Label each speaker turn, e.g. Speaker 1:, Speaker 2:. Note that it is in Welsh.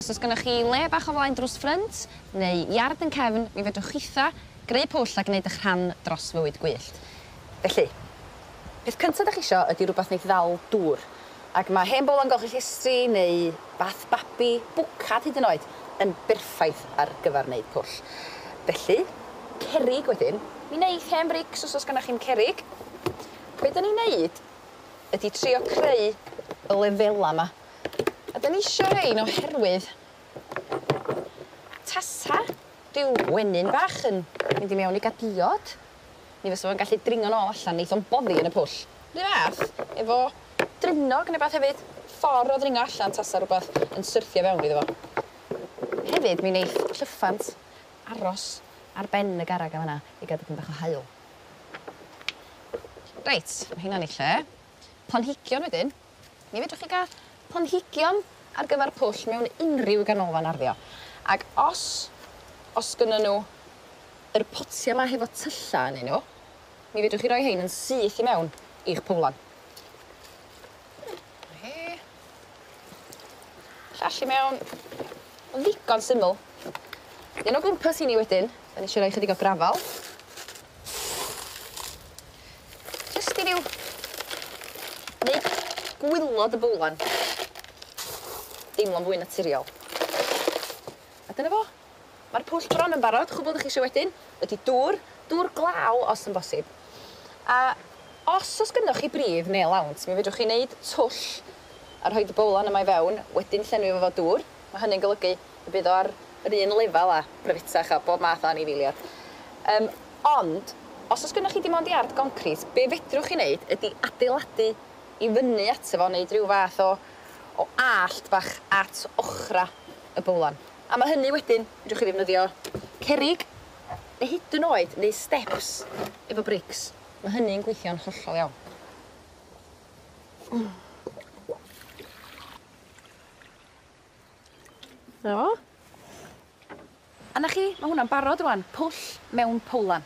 Speaker 1: Os oes gennych chi le bach o flaen drws ffrynt, neu iard yn cefn, mi fedrwch chitha, greu pwll a gwneud eich rhan dros fywyd gwyllt. Felly, peth cynta dych chi isio ydy rhywbeth wneith ddal dŵr, ac mae hen bowlen golchi llestri neu bath babi, bwcad hyd yn oed, yn berffaith ar gyfer wneud pwll. Felly, cerrig wedyn, mi wneith hen frics os oes gennych chi'm cerrig. Be' 'dan ni'n neud ydy trio creu y lefela 'ma. A 'dan ni isio rhein oherwydd tasa ryw wenyn bach yn mynd i mewn i ga'l diod mi fysa fo'n gallu dringo'n ôl allan neith o'n boddi yn y pwll. 'Run fath efo drynog ne' wbath hefyd ffor o ddringo allan tasa rwbath yn syrthio fewn iddo fo. Hefyd mi neith llyffant aros ar ben y garreg yn fan 'na i ga'l dipyn bach o haul. Reit ma' heina'n 'u lle. Planhigion wedyn. Mi fedrwch chi gael planhigion ar gyfer pwll mewn unrhyw ganolfan arddio ac os os gynnyn nhw yr potia 'ma hefo tylla ynnyn nhw mi fedrwch chi roi rhein yn syth i mewn i'ch pwlan. Na hi. Llall i mewn. Ma'n ddigon syml. Un o gwmpas i ni wedyn, 'dan ni isio roi chydig o grafal. Jyst i ryw neud gwilod y bowlen deimlo'n fwy naturiol. A dyna fo. Ma'r pwll bron yn barod, chwbwl 'dych chi isio wedyn ydi dŵr, dŵr glaw os yn bosib. A os o's gynnoch chi bridd ne' lawnt mi fedrwch chi neud twll a rhoid y bowlen yma i fewn, wedyn llenwi fo 'fo dŵr. Mae hynny'n golygu y bydd o ar yr un lefel â Bryfitach a bob math o anifeiliad. Yym, ond, os oes gennych chi dim ond iard goncrit, be' fedrwch chi wneud ydi adeiladu i fyny ato fo, wneud ryw fath o o allt bach at ochrau y bowlan. Am y hynny wedyn, fedrwch chi ddefnyddio cerrig, neu hyd yn oed neu steps efo brics. Mae hynny'n gweithio'n hollol iawn. Na fo. A 'na chi, ma' hwnna'n barod rŵan, pwll mewn powlan.